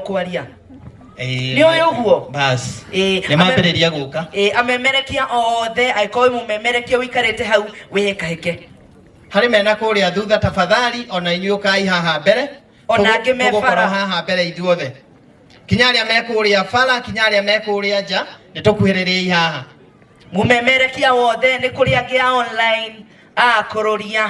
okwaria Eh, Nĩ ũyũ ũguo? basi Eh, nä mambä gå ka Eh, amemerekia othe angĩkorwo wĩ mũmemerekia ũikarĩte hau wĩhĩkahĩke harä mena kå rä a thutha tafadhali ona inyuä kai haha mbere Ona Tũgũ- angĩ me tũgũkorwo bara. haha mbere ithuothe kinya arä a me kå rä a bara kinya arä a me kå rä a nja nä tå kuhä rä rä i haha mũmemerekia wothe nĩ kũrĩ angĩ ya online akũrũria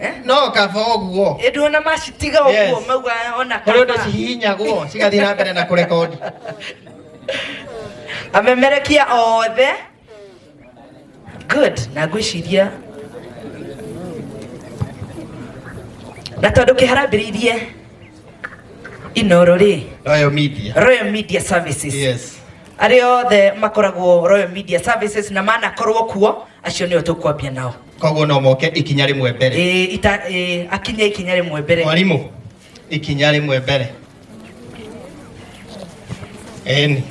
Eh, no kaba ũguo ĩndĩ ona macitiga ũguo Yes. mauga ona kũrĩ ũndũ kaba. cihihinyagwo cigathiĩ na mbere na kũrekondi amemerekia othe good na ngwĩciria na tondũ kĩharambĩrĩirie inoro rĩ royal media royal media services yes arĩa othe makoragwo royal media services na manakorwo kuo acio nĩo tũkwambia nao koguo no moke ikinya rĩmwe mbere Eh, ita eh, akinye ikinya rĩmwe mbere mwarimũ ikinya rĩmwe mbere eni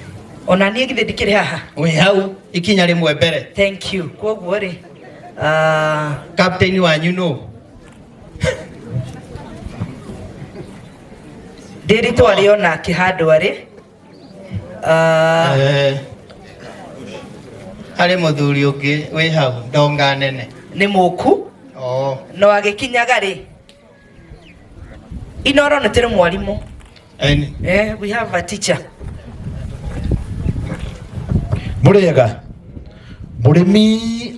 ona niĩ githĩ ndikĩrĩ haha wĩ hau ikinya rĩmwe mbere thank you koguo rĩ ah, kapteni wanyu nũ ndĩritwarĩ ona akĩhandwa rĩ Ah, Eh, harĩ mũthuri ũngĩ wĩ hau ndonga nene nĩ mũku oo no agĩkinyaga rĩ inoro nĩ tĩrĩ mwarimũ Eni. eh, we have a teacher mũrĩega mũrĩmi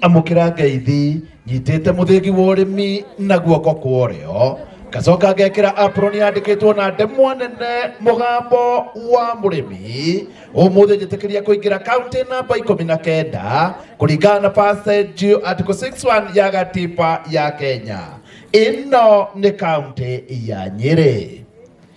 amũkĩra ngeithi nyitĩte mũthĩgi wa ũrĩmi na guoko kwa ũrĩo ngacoka ngekĩra apron yandĩkĩtwo na ndemwa nene mũgambo wa mũrĩmi ũmũthĩ njĩtĩkĩria kũingĩra kaunti namba ikũmi na kenda kũringana na passage article 61 ya gatiba ya kenya ĩno nĩ kaunti ya nyĩrĩ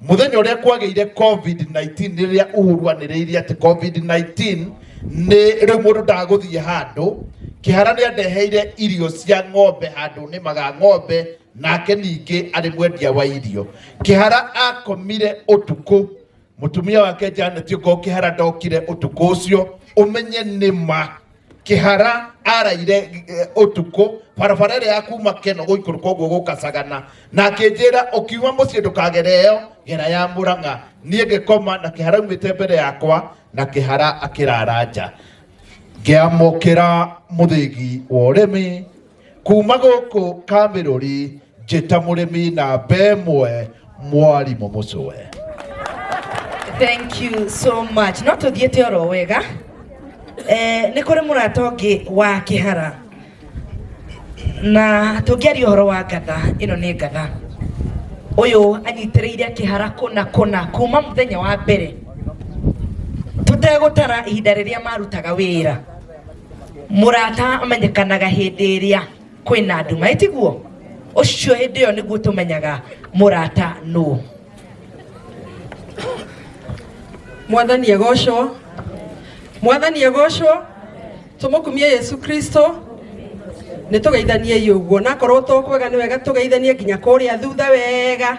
muthenya uria kwagĩire covid-19 nĩ rĩrĩa uhuru anĩrĩirie atĩ covid-19 nĩ rĩu mũndũ ndagũthiĩ handũ kĩhara nĩ andeheire irio cia ng'ombe handũ nĩmaga ng'ombe nake ningĩ arĩ mwendia wa irio kĩhara akomire ũtukũ mũtumia wake janet ũko kĩhara ndokire ũtukũ ũcio ũmenye nĩ ma kihara araire eh, utuku barabara ĩrĩa ya kuma keno gũikũrũka ũguo gũkacagana na akĩnjĩra ũkiuma mũciĩ ndũkagere ĩyo gera ya mũrang'a niĩ ngĩkoma na kĩhara umĩte mbere yakwa na kĩhara akĩrara nja ngĩamũkĩra mũthĩgi wa ũrĩmi kuma gũkũ kamĩrũri njĩta mũrĩmi namba ĩmwe mwarimũ mũcũwe thank you so much no tũthiĩte oro wega eh, nĩ kũrĩ mũrata ũngĩ wa kĩhara na tũngĩaria ũhoro wa ngatha ĩno nĩ ngatha ũyũ anyitĩrĩire kĩhara kũna kũna kuma mũthenya wa mbere tũtegũtara ihinda rĩrĩa marutaga wĩra murata amenyekanaga hindi iria kwina nduma itiguo ucio hindi iyo niguo tumenyaga murata nu mwathani egocwo mwathani egocwo tumukumie yesu kristo nä tå geithanie å guo nakorwo to kwega nä wega tå geithanie nginya kå rä a thutha wega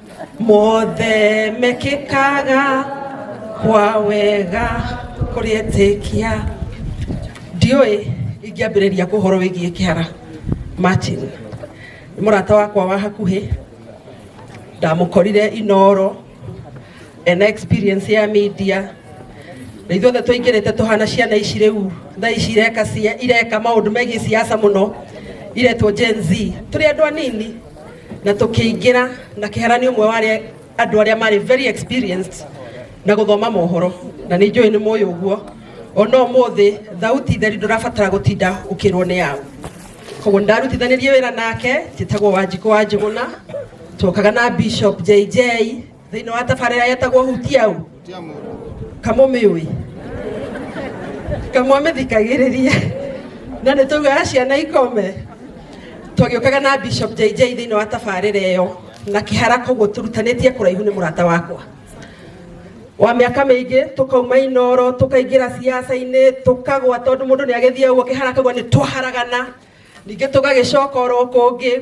mothe mekĩkaga kwa wega kũrĩetĩkia ndiũĩ ingĩambĩrĩria kũhoro wĩgiĩ kĩhara martin nĩ mũrata wakwa wa hakuhĩ ndamũkorire inoro ena experience ya media na ithuothe tũingĩrĩte tũhana ciana ici rĩu thaa ici ireka cia- ireka maũndũ megiĩ siasa mũno iretwo gen z tũrĩ andũ anini na tũkĩingĩra na kĩhara nĩ ũmwe wa arĩa andũ arĩa marĩ very experienced na gũthoma mohoro na nĩ njũĩ nĩ mũĩ ũguo ona ũmũthĩ thauti theri ndũrabatara gũtinda ũkĩrwo nĩ yaũ koguo nĩ ndarutithanirie wĩra nake njĩtagwo wanjikũ wa njũgũna twokaga na bishop jj thĩinĩ wa tabarĩra yetagwo hutia ũ kamũmĩũĩ kamwamĩthikagĩrĩria na nĩ taugaga ciana ikome twagĩũkaga na bishop jj thĩinĩ wa tabarĩra ĩyo na kĩhara koguo tũrutanĩtie kũraihu nĩ mũrata wakwa wa mĩaka mĩingĩ tũkauma inoro tũkaingĩra ciaca-inĩ tũkagwa tondũ mũndũ nĩ agĩthiĩ ũguo kĩhara kaguo nĩ twaharagana ningĩ tũgagĩcoka oro kũngĩ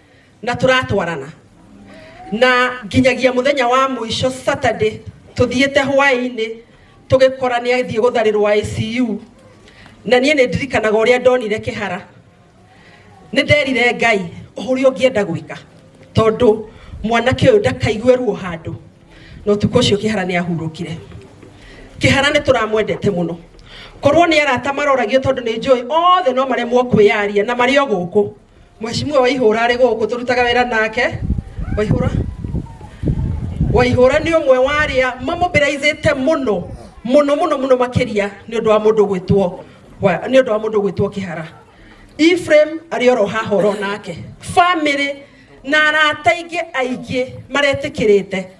na turatwarana na nginyagia muthenya wa muico Saturday tuthiite hwaini tugikora ni athie gutharirwa ICU na nie ni ndirikanaga uria ndonire kihara ni nderire ngai uhuri ungienda gwika tondu mwanake uyu ndakaigue ruo handu no tuko ucio kihara ni ahurukire kihara ni turamwendete muno korwo ni arata maroragio tondu ni njui othe no maremwo kwiyaria na mari o guku Mheshimiwa Waihũra arĩ gũkũ tũrutaga wĩra nake Waihũra Waihũra nĩ ũmwe wa arĩa mamobilizĩte mũno mũno mũno mũno makĩria nĩ ũndũ wa mũndũ gwĩtwo wa- nĩ ũndũ wa mũndũ gwĩtwo kĩhara Ephraim arĩ oro haha oro nake family na arata aingĩ aingĩ maretĩkĩrĩte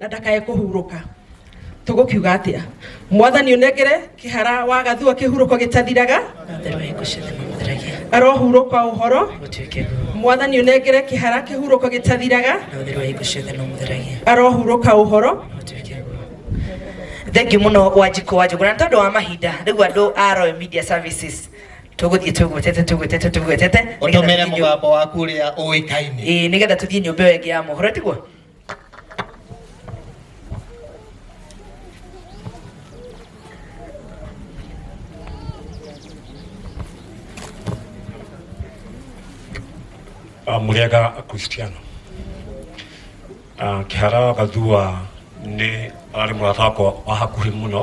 na ndakae kũhurũka tũgũkiuga atĩa mwathani ũnengere kĩhara wa gathua kĩhurũko gĩtathiraga arohurũka ũhoro mwathani ũnengere kĩhara kĩhurũko gĩtathiraga arohurũka ũhoro thengiå må no wanjikå wa njågå na tondå wa mahinda rä u andå a Royal media services tå gå thiä tå gwetete tå gwetete tå gwetete å tå mere må gambo waku å rä a å ä kaine nä getha tå thiä nyå mba ä yo ä ngä ya mohoro tiguo Ah, murega kristiano Ah, kĩhara gathua nĩ ararĩ mũrata wakwa wa hakuhĩ mũno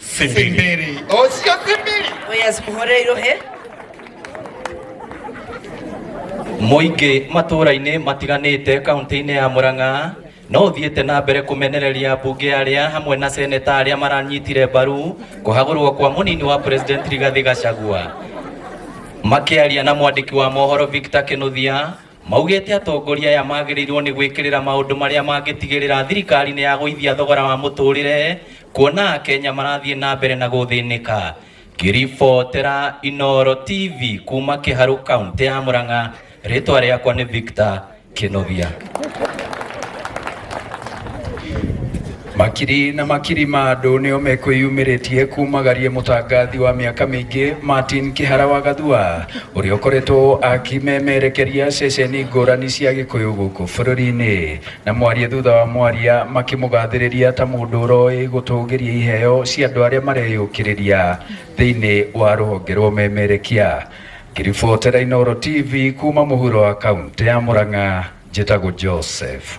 Simbiri. Oh, sio Simbiri. Oya zimuhore irohe. Moinge matũra-inĩ matiganĩte kaunti-inĩ ya Murang'a no thiĩte na mbere kumenereria mbunge arĩa hamwe na seneta arĩa maranyitire mbaru kũhagũrwo kwa mũnini wa president Rigathi Gachagua makiaria na mwandĩki wa mohoro Victor Kinuthia Maugĩte atongoria aya magĩrĩirwo nĩ gwĩkĩrĩra maũndũ marĩa mangĩtigĩrĩra thirikari nĩ yagũithia thogora wa mũtũrĩre kuona Akenya marathiĩ na mbere na gũthĩnĩka. Ngĩribotera Inooro TV kuma Kĩharũ kaũntĩ ya Mũrang'a, rĩtwa rĩakwa nĩ Victor Kĩnovia. Makiri na makiri ma andũ nĩo mekwĩyumĩrĩtie kumagaria mũtangathi wa mĩaka mĩingĩ Martin Kĩhara wa Gathua ũrĩa ũkoretwo akĩmemerekeria ceceni ngũrani cia Gĩkũyũ gũkũ bũrũri-inĩ na mwaria thutha wa mwaria makĩmũgathĩrĩria ta mũndũ ũroĩ gũtũgĩria iheo cia andũ arĩa mareyũkĩrĩria thĩinĩ wa rũhonge rwa ũmemerekia. Ngĩribotera Inooro TV kuma mũhuro wa kauntĩ ya Mũrang'a, njĩtagwo Joseph.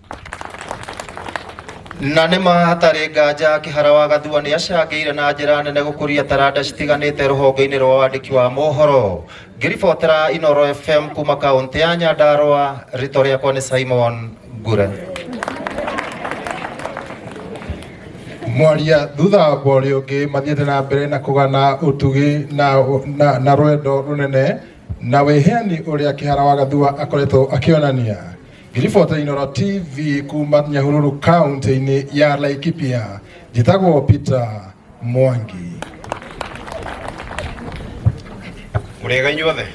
na nĩ ma hatarĩ nganja kĩhara wa gathua nĩ acangĩire na njĩra nene gũkũria taranda citiganĩte rũhonge-inĩ rwa wandĩki wa mohoro ngĩribotera inoro fm kuma kaũntĩ ya nyandarũa rĩtwa rĩakwa nĩ simon ngure mwaria thutha wa mborĩ ũngĩ mathiĩte na mbere na kũgana ũtugi na, na, na rwendo rũnene na wĩheani ũrĩa kĩhara wa gathua akoretwo akĩonania Ngiribota Inoro TV kuma Nyahururu kaunti-inĩ ya Laikipia njĩtagwo Peter Mwangi. mũrĩega inyuothe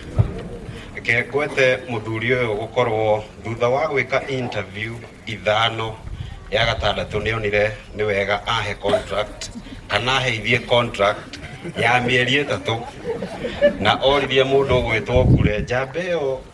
reke ngwete mũthuri ũyũ gũkorwo thutha wa gwĩka interview ithano ya gatandatũ nĩ onire nĩ wega ahe contract kana aheithie contract ya mĩeri ĩtatũ na oririe mũndũ ũgwĩtwo ngure njamba ĩyo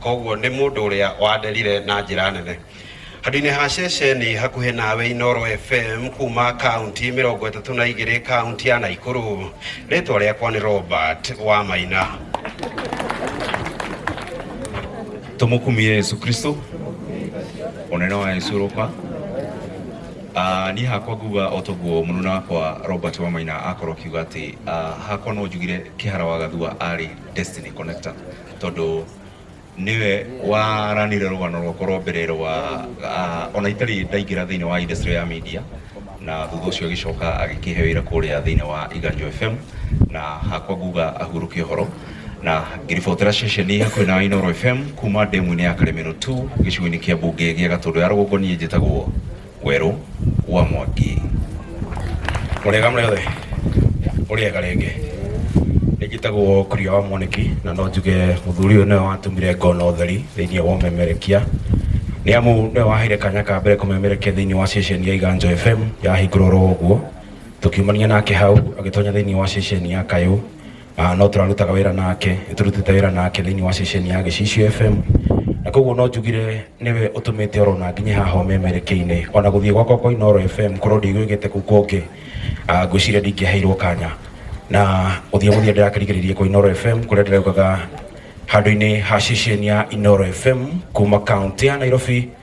koguo nĩ mũndũ ũrĩa wanderire na njĩra nene handũ-inĩ ha ceceni hakuhĩ nawe Inoro FM kuma kaunti mĩrongo ĩtatũ na igĩrĩ kaunti ya Naikuru rĩtwa rĩakwa nĩ Robert wa Maina tumukumie yesu kristo unene wa yesu roka Ah, niĩ hakwa nguga o toguo mũnuna wakwa robert wamaina akorwo akiuga atĩ ah, hakwa no njugire kĩhara wa gathua arĩ destiny connector tondå niwe waranire rugano rwakwa rwa mbere rwa ah, ona itari ndaingira thiini wa industry ya media na thutha ucio agicoka agikihe wira kuria thiini wa iganjo fm na hakwa nguga ahuruke horo na ngiribotera ceceni hakuhi na inoro fm kuma ndemu-inĩ ya karemero 2 gĩcigo-inĩ kĩa mbunge gĩa gatũndũ ya rũgongo niĩ njĩtagwo Werũ wa mwaki. Mũrĩega mũrĩ othe? Mũrĩega rĩngĩ? Nĩ njĩtagwo Kuria wa Mwanĩki na no njuge mũthuri ũyũ nĩwe watũmire ngona ũtheri thĩinĩ wa ũmemerekia nĩ amu nĩwe waheire kanya ka mbere kũmemerekia thĩinĩ wa ceceni ya Iganjo FM yahingũrwo oro ũguo tũkiumania nake hau agĩtonya thĩinĩ wa ceceni ya Kayũ Ah, no tũrarutaga wĩra nake nĩ tũrutĩte wĩra nake thĩinĩ wa ceceni ya gĩcicio fm na koguo no njugire nĩwe ũtũmĩte oro na nginye haha ũmemerekeine ona gũthiĩ gwakwa kwa inoro fm korwo ndigwĩgĩte kũu kũngĩ ah, ngwĩciria ndingĩaheirwo kanya na gũthiĩ gũthiĩ ndĩrakĩrigĩrĩrie kwa inoro fm kũrĩa ndĩraugaga handũ-inĩ ha ceceni ya inoro fm kuma kaunti ya nairobi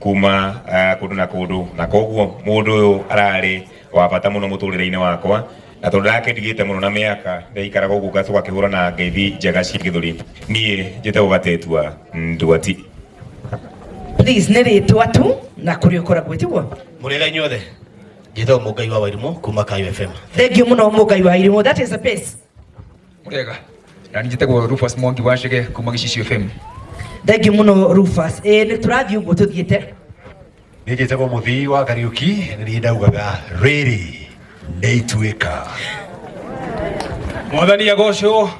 kuma uh, kundu na kundu na koguo mundu uyu arari wa bata muno muturire-ini wakwa na tondu ndakendigite muno na miaka ndaikaraga uguo ngacoka kihura na ngeithi njega cia githuri nie njite gugatetua nduati please nä rä twa tu na kå rä å koragwo tiguo må rä ra inyuothe njä te å må ngai wa wairimo kuma kayo fm thengio må no må ngai wa irimå that is the best Murega. Na ni gitego Rufus Mwangi washige kuma Gishishi FM. thengio muno rufas ä nä tå rathiä å guo tå thiä te nä njä tegwo må thii wa kariuki nä niä ndaugaga rä rä nä ituä ka mwathani agocwo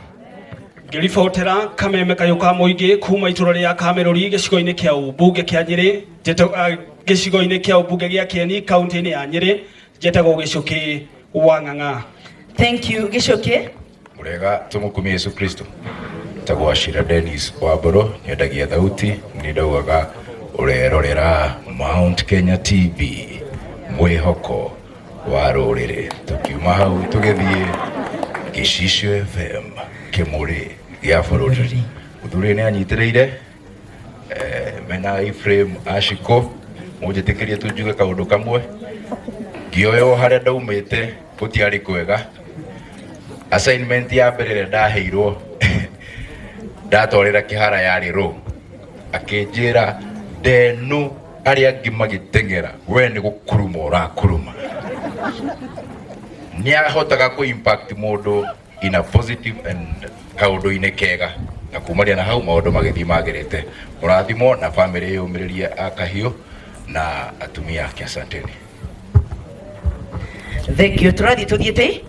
ngĩribotera kameme kayũ ka mũingĩ kuma itũra rĩa kamerũri gĩcigo-inĩ kĩa ũmbunge kĩa nyĩrĩ ndeto- ah, gĩcigo-inĩ kĩa ũmbunge gĩa kĩeni kaunti-inĩ ya nyĩrĩ Njĩtagwo Gĩcũkĩ wa Ng'ang'a. Thank you Gĩcũkĩ. Mũrega tũmũkumie Yesu Kristo. Njĩtagwo Ashira Dennis wa Mbũrũ, nyendagia thauti, nĩ ndaugaga ũrerorera Mount Kenya TV, mwĩhoko wa rũrĩrĩ. Tũkiuma hau tũgĩthiĩ Gĩcicio FM, kĩmũrĩ gĩa bũrũri. Mũthuri nĩ anyitĩrĩire Eh, mena iframe ashiko munjitikirie tunjuge kaundu kamwe ngioyo haria ndaumite gutiari kwega assignment ya mbere ĩrĩa ndaheirwo ndatwarĩra kĩhara yarĩ rũ akĩnjĩra ndenu arĩa angĩ magĩteng'era we nĩ gũkuruma ũrakuruma nĩ ahotaga kũ impact mũndũ in a positive and kaundu-ini kega na kumaria na hau maundu magithii magerete murathimo na family yumiririe akahiu na atumia ake asanteni thank you turathi tuthie ti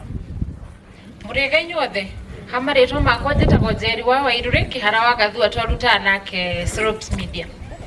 mũrĩga inyuothe ha marĩtwa makwa njĩtagwo njeri wa wairũ rĩ kĩhara wa gathua twarutaga nake Slopes media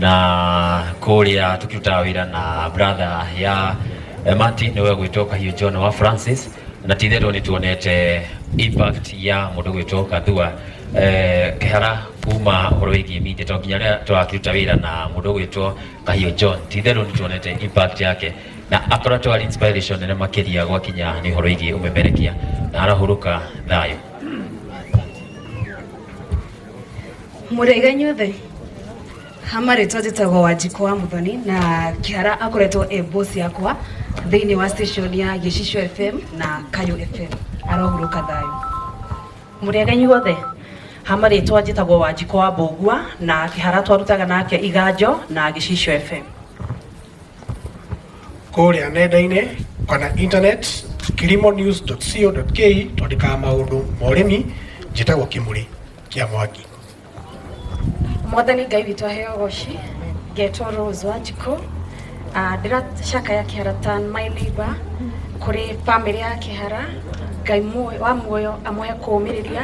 na kuria tukirutaga wira na brother ya eh, Martin niwe gwitwo kahiu John wa Francis na titherwo ni tuonete impact ya mundu gwitwo kathua eh, kihara kuma horo wigi mite to nginya ria twakiruta wira na mundu gwitwo kahiu John titherwo ni tuonete impact yake na akoretwo ari inspiration nene makiria gwakinya ni horo wigi umemerekia na arahuruka thayo mũrĩga inyuothe hama rĩtwa njĩtagwo wanjikũ wa mũthoni na kĩhara akoretwo e boss yakwa thĩinĩ wa station ya gĩcicio fm na kayo fm arohurũka thayũ mũrĩga inyuothe hama rĩtwa njĩtagwo wanjikũ wa mbũngua na kĩhara twarutaga nake iganjo na gĩcicio fm kũrĩa nenda-inĩ kana internet kilimonews.co.ke twandĩkaga maũndũ ma ũrĩmi njĩtagwo kĩmũrĩ kĩa mwaki mwathani ngai witũ aheo goci ngetwo rose wanjikũ Ah, ndĩracakaya kĩhara tan my neighbor kũrĩ bamĩrĩ ya kĩhara ngai muoyo- wa muoyo amũhe kũũmĩrĩria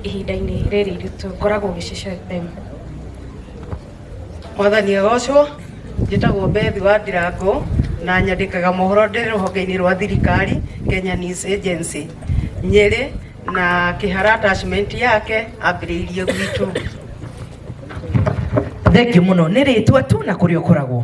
ihinda-inĩ rĩrĩ iritũ ngoragwo gĩcicio fm mwathani agocwo njĩtagwo bethi wa ndirango na nyandĩkaga mohoro ndĩ rũhonge-inĩ rwa thirikari kenya news agency nyĩrĩ na kĩhara attachment yake ambĩrĩirie gwitũ Thengiũ mũno nĩ rĩtwa tu na kũrĩa ũkoragwo.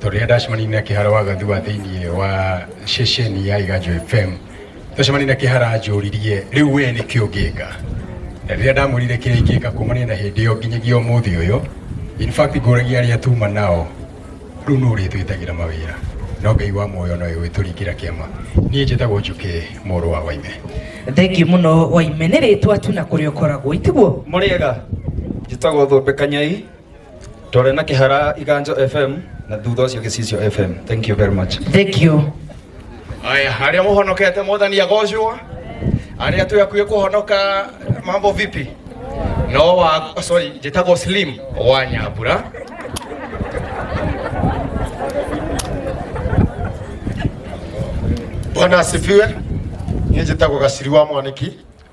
Tũrĩa ndacemani na kĩhara wa gathua thĩinĩ wa ceceni ya Iganjo FM tũcemani na kĩhara njũririe rĩu we nĩ kĩo ngĩka na rĩrĩa ndamwĩrire kĩrĩa ingĩka kumania na hĩndĩ ĩyo nginyagia ũmũthĩ ũyũ in fact ngũragia arĩa tuma nao rĩu nũ ũrĩtwĩtagĩra mawĩra no ngai wa muoyo nowe wĩtũringĩra kĩama niĩ njĩtagwo njũkĩ mũrũ wa waime thengiũ mũno waime nĩ rĩtwa tu na kũrĩa ũkoragwo itiguo mũrĩega njĩtagwo thũmbĩ kanyai twarĩ na kĩhara iganjo fm na thutha ũcio gĩcicio fm thank you very much thank you aya arĩa mũhonokete mwathani agocwo arĩa twĩ hakuhĩ kũhonoka mambo vipi no wa sorry njĩtagwo slim wa nyambura bwana asifiwe niĩ njĩtagwo gaciri wa mwaniki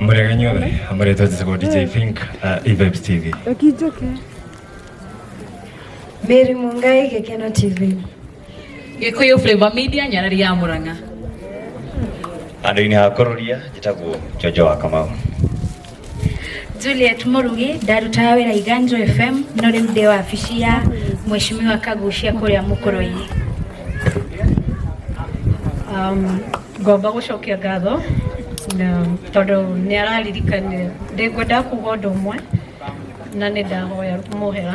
mũreganyuothe amũrĩtwo njĩtagwo dj fink uh, evibes tv Ũkĩnjũke. Mary Mungai Gĩkeno TV. Gikuyu Flavor Media Nyarari ya Murang'a. handå-inä ha kå rå ria njätagwo njonjo wa kamau Juliet Murugi ndarutaga wĩra Iganjo FM no rĩu ndĩ wabici ya Mheshimiwa Kagucia kũrĩa Mũkũrũ-inĩ. Um, ngomba gũcokia ngatho na tondũ nĩ araririkania ndĩ ngwenda kuga ũndũ ũmwe na nĩ ndahoya mũhera